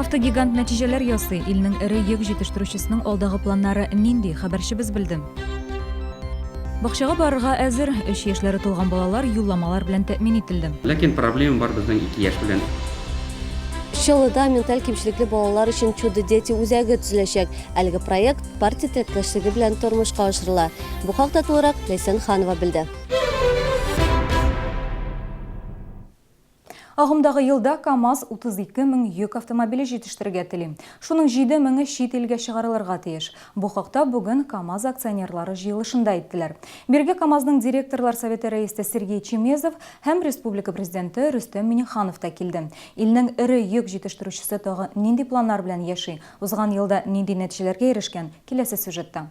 Автогигант нәтиҗәләр ясый. Илнең эре йөк җитештерүчесенең алдагы планнары нинди? Хәбәрчебез белде. Бакчага барырга әзер, өч яшьләре тулган балалар юлламалар белән тәэмин ителде. Ләкин проблема бар безнең ике яшь белән. Чаллыда менталь кимчелекле балалар өчен Чудо-дети үзәге төзеләчәк. Әлеге проект партия теләктәшлеге белән тормышка ашырыла. Бу хакта тулырак Ләйсән Ханова белде. Агымдагы елда КАМАЗ 32 мең йөк автомобиле җитештерергә тели. Шуның 7 меңе чит илгә чыгарылырга тиеш. Бу хакта бүген КАМАЗ акционерлары җыелышында әйттеләр. Бирге КАМАЗның директорлар советы рәисе Сергей Чемезов һәм республика президенты Рөстәм Миңнеханов та килде. Илнең эре йөк җитештерүчесе тагы нинди планнар белән яши, узган елда нинди нәтиҗәләргә ирешкән, киләсе сюжетта.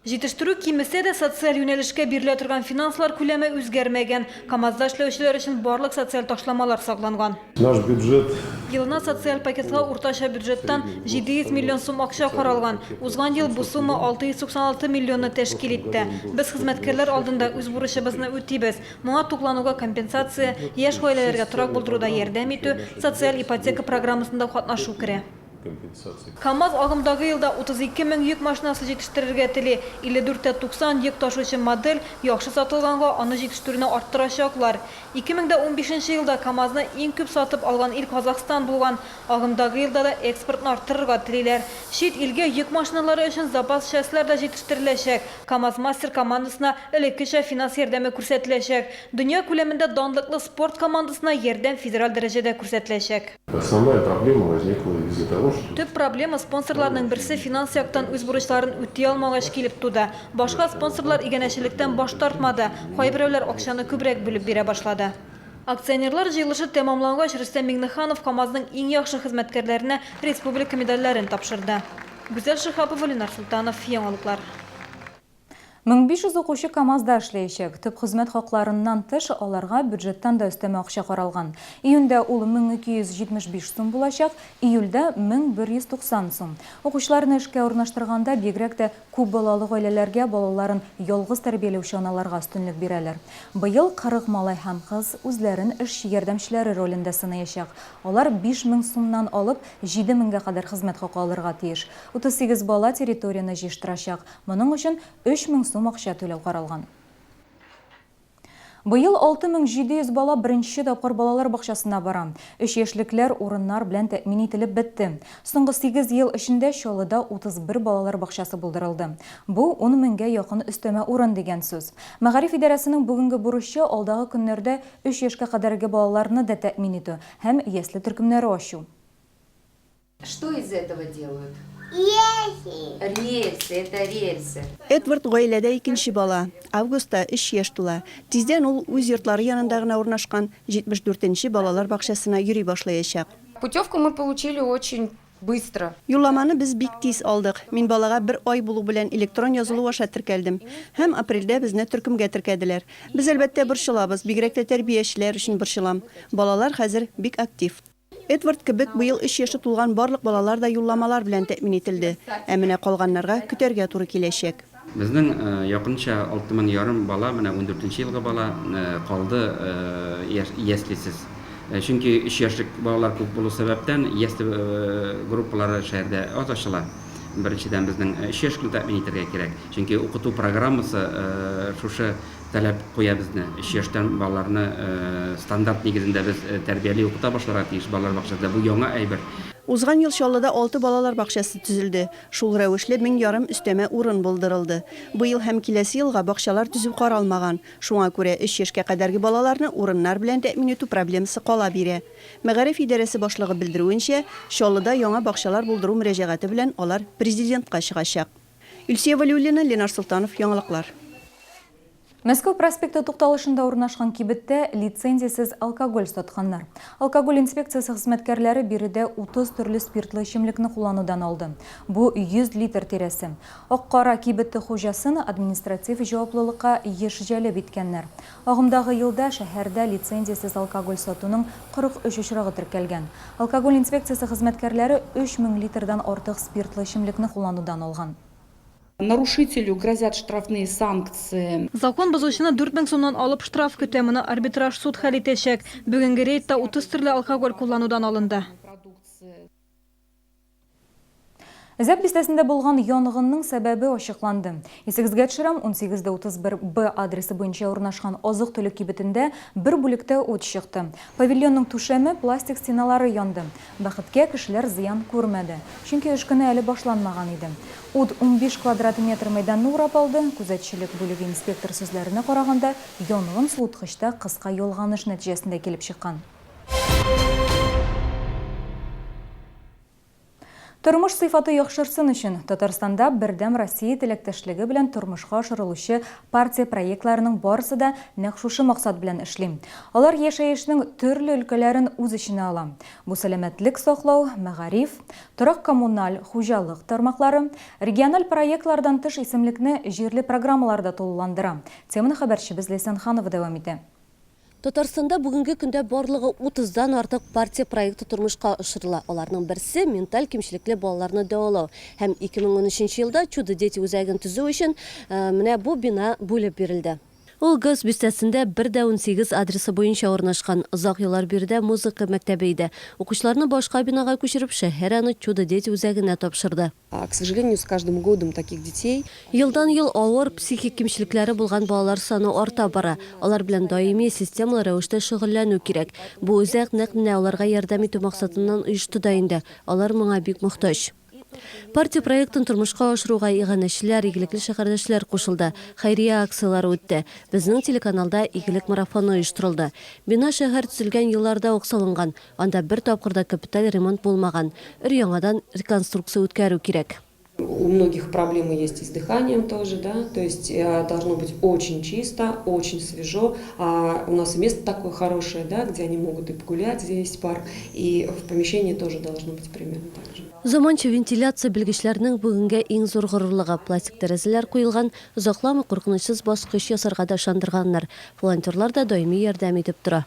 Җитештерү кимесә дә, социаль юнәлешкә бирелә торган финанслар күләме үзгәрмәгән. КАМАЗда эшләүчеләр өчен барлык социаль ташламалар сакланган. Наш бюджет. Елына социаль пакетка уртача бюджеттан 700 миллион сум акча каралган. Узган ел бу сумма 696 миллионны тәшкил итте. Без хезмәткәрләр алдында үз бурычыбызны үтибез. Моңа туклануга компенсация, яшь гаиләләргә торак булдыруда ярдәм итү, социаль ипотека программасында катнашу керә. компенсация. КАМАЗ агымдагы елда 32 мең йөк машинасы җитештерергә тели. 54 тә 90 йөк ташучы модель яхшы сатылганга, аны җитештерүне арттырачаклар. 2015 елда КАМАЗны иң күп сатып алган ил Казахстан булган. Агымдагы елда да экспортны арттырырга телиләр. Чит илгә йөк машиналары өчен запас частьлар да җитештереләчәк. КАМАЗ-Мастер командасына элеккечә финанс ярдәме күрсәтеләчәк. Дөнья күләмендә данлыклы спорт командасына ярдәм федераль дәрәҗәдә күрсәтеләчәк. Основная проблема возникла из-за того, что. Төп проблема спонсорларның берсе финанс яктан үз бурычларын үти алмагач килеп туды. Башка спонсорлар иганәчелектән баш тартмады, кайберәүләр акчаны күбрәк бүлеп бирә башлады. Акционерлар җыелышы тәмамлангач, Рөстәм Миңнеханов КАМАЗның иң яхшы хезмәткәрләренә республика медальләрен тапшырды. Гүзәл Шиһапова, Ленар Солтанов, Яңалыклар. 1500 укучы КАМАЗда эшләячәк. Төп хезмәт хакларыннан тыш, аларга бюджеттан да өстәмә акча каралган. Июньдә ул 1275 сум булачак, июльдә, 1190 сум. Укучыларны эшкә урнаштырганда, бигрәк тә күп балалы гаиләләргә, балаларын ялгыз тәрбияләүче аналарга өстенлек бирәләр. Быел 40 малай һәм кыз үзләрен эшче ярдәмчеләре ролендә сынаячак. Алар 5000 сумнан алып 7000 гә кадәр хезмәт хакы алырга тиеш. 38 бала территорияне җыештырачак. Моның өчен 3 мең сум акча түләү каралган. Быел 6700 бала беренче тапкыр балалар бакчасына бара. Өч яшьлекләр урыннар белән тәэмин ителеп бетте. Соңгы сигез ел эчендә Чаллыда 31 балалар бакчасы булдырылды. Бу, ун меңгә якын өстәмә урын дигән сүз. Мәгариф идарәсенең бүгенге бурычы, алдагы көннәрдә өч яшькә кадәрге балаларны да тәэмин итү һәм ясле төркемнәре ачу. Что из этого делают? Рельсы. Рельсы, это рельсы. Эдвард гаиләдә икенче бала. Августта өч яшь тула. Тиздән ул үз йортлары янында гына урнашкан 74 нче балалар бакчасына йөри башлаячак. Путевку мы получили очень быстро. Юлламаны без бик тиз алдык. Мин балага бер ай булу белән электрон язылу аша теркәлдем. Һәм апрельдә безне төркемгә теркәделәр. Без, әлбәттә, борчылабыз, бигрәк тә тәрбиячеләр өчен борчылам. Балалар хәзер бик актив. Эдвард кебек быел өч яше тулган барлык балалар да юлламалар белән тәэмин ителде. Ә менә калганнарга көтәргә туры киләчәк. Безнең якынча алты мең ярым бала, менә ундүртенче елгы бала, калды яслисез. Чөнки өч яшьлек балалар күп булу сәбәптән, ясле группалары шәһәрдә аз ачыла. Беренчедән, безнең өч яшьлекне тәэмин итәргә кирәк. Чөнки укыту программасы шушы таләп куя безне. Өч яшьтән балаларны стандарт нигезендә без тәрбияли, укыта башларга тиеш балалар бакчасында. Бу яңа әйбер. Узган ел Чаллыда алты балалар бакчасы төзелде. Шул рәвешле мең ярым өстәмә урын булдырылды. Быел һәм киләсе елга бакчалар төзү каралмаган. Шуңа күрә өч яшькә кадәрге балаларны урыннар белән тәэмин итү проблемасы кала бирә. Мәгариф идарәсе башлыгы белдерүенчә, Чаллыда яңа бакчалар булдыру мөрәҗәгате белән алар Президентка чыгачак. Илсөя Вәлиуллина, Ленар Солтанов, Яңалыклар. Мәскәү проспекты тукталышында урнашкан кибеттә лицензиясез алкоголь сатканнар. Алкоголь инспекциясе хезмәткәрләре биредә 30 төрле спиртлы эчемлекне кулланудан алды. Бу, 100 литр тирәсе. Ак-кара кибете хуҗасын административ җаваплылыкка еш җәлеп иткәннәр. Агымдагы елда шәһәрдә лицензиясез алкоголь сатуның 43 очрагы теркәлгән. Алкоголь инспекциясе хезмәткәрләре 3 мең литрдан артык спиртлы эчемлекне кулланудан алган. Нарушителю грозят штрафные санкции. Закон бозучыны дүрт мең сумнан алып штраф көтә, моны арбитраж суд хәл итәчәк. Бүгенге рейдта 30 төрле алкоголь кулланудан алынды. Зәп бистәсендә булган янгынның сәбәбе ачыкланды. Исегезгә төшерәм, 18:31 Б адресы буенча урнашкан азык-төлек кибетендә бер бүлектә ут чыкты. Павильонның түшәме, пластик стеналары янды. Бәхеткә, кешеләр зыян күрмәде. Чөнки эш көне әле башланмаган иде. Ут унбиш квадрат метр мәйданны урап алды. Күзәтчелек бүлеге инспектор сүзләренә караганда, янгын суыткычта кыска ялганыш нәтиҗәсендә килеп чыккан. Тормыш сыйфаты яхшырсын өчен, Татарстанда Бердәм Россия теләктәшлеге белән тормышка ашырылучы партия проектларының барысы да нәкъ шушы максат белән эшли. Алар яшәешнең төрле өлкәләрен үз эченә ала. Бу сәламәтлек саклау, мәгариф, торак-коммуналь хуҗалык тармаклары, региональ проектлардан тыш исемлекне җирле программалар да тулыландыра. Теманы хәбәрчебез Ләйсән Ханова дәвам итә. Татарстанда бүгенге көндә барлыгы 30 дан артык партия проекты тормышка ашырыла. Аларның берсе, менталь кимчелекле балаларны дәвалау. Һәм 2013 елда Чудо дети үзәген төзү өчен менә бу бина бүлеп бирелде. Ул Газ бистәсендә, бер дә унсигез адресы буенча урнашкан. Озак еллар биредә музыка мәктәбе иде. Укучыларны башка бинага күчереп, шәһәр аны Чудо дети үзәгенә тапшырды. К сожалению, с каждым годом таких детей. Елдан-ел авыр психик кимчелекләре булган балалар саны арта бара. Алар белән даими, системалы рәвештә шөгыльләнү кирәк. Бу үзәк нәкъ менә аларга ярдәм итү максатыннан оешты да инде, алар моңа бик мохтаҗ. Партия проектын тормышка ашыруга иганәчеләр, игелекле шәһәрдәшләр кушылды, хәйрия акцияләре үтте. Безнең телеканалда Игелек марафоны оештырылды. Бина шәһәр төзелгән елларда ук салынган, Анда бер тапкыр да капиталь ремонт булмаган, өр-яңадан реконструкция үткәрү кирәк. У многих проблемы есть и с дыханием тоже, да, то есть должно быть очень чисто, очень свежо, а у нас и место такое хорошее, да, где они могут и погулять, где есть парк, и в помещении тоже должно быть примерно так же. Заманча вентиляция белгечләрнең бүгенгә иң зур горурлыгы. Пластик тәрәзәләр куелган, озакламый куркынычсыз баскыч ясарга да ышандырганнар. Волонтерлар да даими ярдәм итеп тора.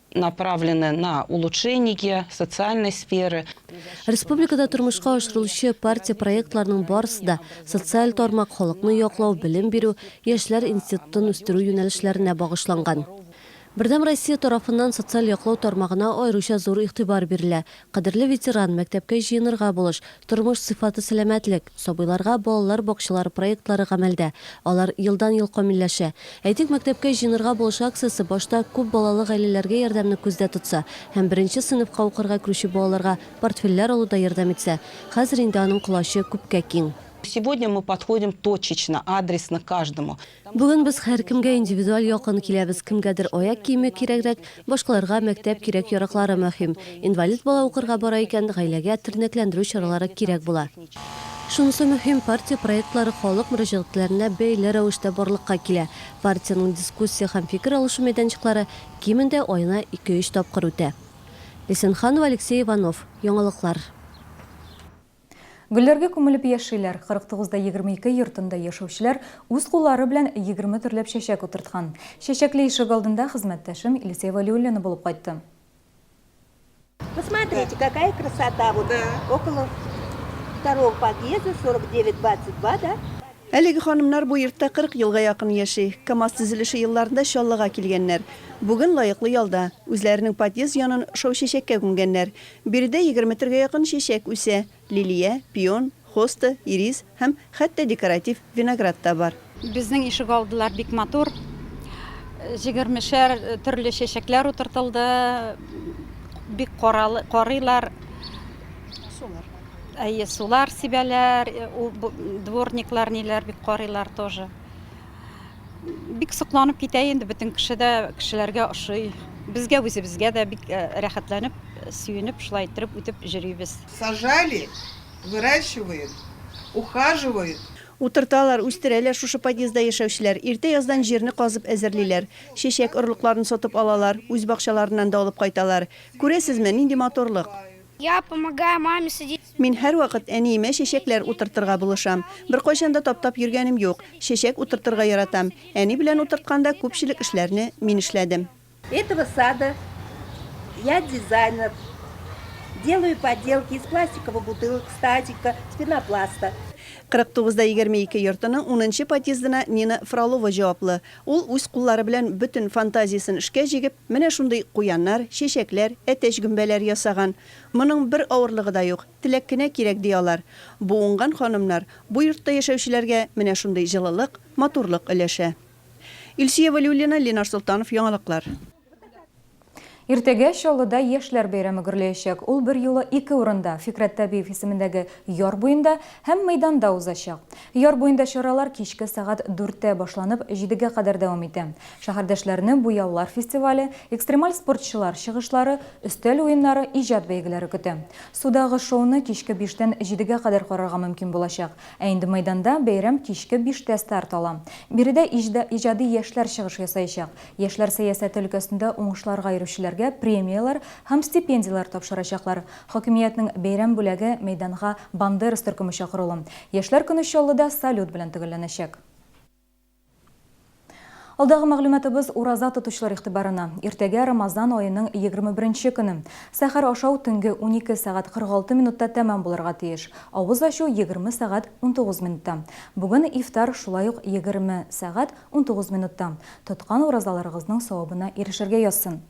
направлены на улучшение социальной сферы. Республикада тормышка ашырылучы партия проектларының барысы да социаль тармак, халыкны яклау, белем бирү, яшьләр институтын үстерү юнәлешләренә багышланган. Бердәм Россия тарафыннан социаль яклау тармагына аеруча зур игътибар бирелә, Кадерле ветеран, мәктәпкә җыенырга булыш, тормыш сыйфаты сәламәтлек, сабыйларга балалар бакчалары проектлары гамәлдә, алар елдан-ел камилләшә. Әйтик, мәктәпкә җыенырга булыш акциясе башта күп балалы гаиләләргә ярдәмне күздә тотса һәм беренче сыйныфка укырга керүче балаларга портфельләр алуда ярдәм итсә, хәзер инде аның колачы күпкә киң. Сегодня мы подходим точечно, адресно к каждому. Бүген без һәркемгә индивидуаль якын киләбез, кемгәдер аяк киеме кирәгрәк, башкаларга мәктәп кирәк-яраклары мөһим. Инвалид бала укырга бара икән, гаиләгә тернәкләндерү чаралары кирәк була. Шунысы мөһим, партия проектлары халык мөрәҗәгатьләренә бәйле рәвештә барлыкка килә. Партиянең дискуссия һәм фикер алышу мәйданчыклары кимендә аена ике-өч тапкыр үтә. Лисенханова, Алексей Иванов, Яңалыклар. Гөлләргә күмелеп яшиләр. 49 да 22 йортында яшәүчеләр үз куллары белән 20 төрләп чәчәк утырткан. Чәчәкле ишек алдында хезмәттәшем Илсөя Вәлиуллина булып кайтты. Посмотрите, какая красота, вот около второго подъезда 49 22, да? Әлеге ханымнар бу йортта 40 елга якын яши. КАМАЗ төзелеше елларында Чаллыга килгәннәр. Бүген лаеклы ялда. Үзләренең подъезд янын шау-чәчәккә күмгәннәр. Биредә егерме төргә якын чәчәк үсә, лилия, пион, хоста, ирис һәм хәтта декоратив виноград та бар. Безнең ишегалдылар бик матур, җигермешәр төрле чәчәкләр утыртылды, бик карыйлар, әйе, сулар сибәләр, дворниклар ниләр бик карыйлар тоже. бик сокланып китә инде бөтен кеше дә кешеләргә ошый безгә үзебезгә дә бик э, рәхәтләнеп сөенеп шулай иттереп үтеп җөрибез сажали выращивают ухаживают Утырталар, үстерәләр шушы подъездда яшәүчеләр. Иртә яздан җирне казып әзерлиләр. Чәчәк орлыкларын сатып алалар, үз бакчаларыннан да алып кайталар. Күрәсезме, нинди матурлык! Мин һәрвакыт әниемә чәчәкләр утыртырга булышам. Беркайчан да таптап йөргәнем юк. Чәчәк утыртырга яратам. Әни белән утыртканда күпчелек эшләрне мин эшләдем. Этого сада я дизайнер. Делаю поделки из пластиковых бутылок, стадика, пенопласта. 49 да 22 йортының унынчы подъездына Нина Фролова җаваплы. Ул үз куллары белән бөтен фантазиясен эшкә җигеп, менә шундый куяннар, чәчәкләр, әтәч гөмбәләр ясаган. Моның бер авырлыгы да юк, теләк кенә кирәк, ди алар. Бу уңган ханымнар, бу йортта яшәүчеләргә менә шундый җылылык, матурлык өләшә. Илсөя Вәлиуллина, Ленар Солтанов, Яңалыклар. Иртәгә Чаллыда Яшьләр бәйрәме гөрләячәк. Ул берьюлы ике урында, Фикърәт Табиев исемендәге яр буенда һәм мәйданда узачак. Яр буенда чаралар кичке сәгать дүрттә башланып, җидегә кадәр дәвам итә. Шәһәрдәшләрне буяулар фестивале, экстремаль спортчылар чыгышлары, өстәл уеннары, иҗат бәйгеләре көтә. Судагы шоуны кичке биштән җидегә кадәр карарга мөмкин булачак. Ә инде мәйданда бәйрәм кичке биштә старт ала. Биредә иҗади яшьләр чыгыш ясаячак. Яшьләр сәясәте өлкәсендә уңышларга йөрүчеләргә премияләр һәм стипендияләр тапшырачаклар. Хакимиятнең бәйрәм бүләге мәйданга Бандерас төркеме чакырулы. Яшьләр көне Чаллыда салют белән төгәлләнәчәк. Алдагы мәгълүматыбыз ураза тотучылар игътибарына. Иртәгә Рамазан аеның егерме беренче көне. Сәхәр ашау төнге унике сәгать кырык алты минутта тәмам булырга тиеш. Авыз ачу егерме сәгать унтугыз минутта. Бүген ифтар шулай ук егерме сәгать Унтугыз минутта. Тоткан уразаларыгызның савабына ирешергә язсын.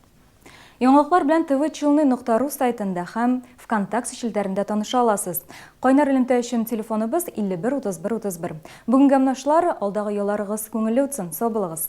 Яңалыклар белән тв челны нокта ру сайтында һәм Вконтаксе челтәрендә таныша аласыз. Кайнар элемтә өчен телефоныбыз 51 31 31. Бүгенгә менә шулар, алдагы ялларыгыз күңелле утсын, сау булыгыз!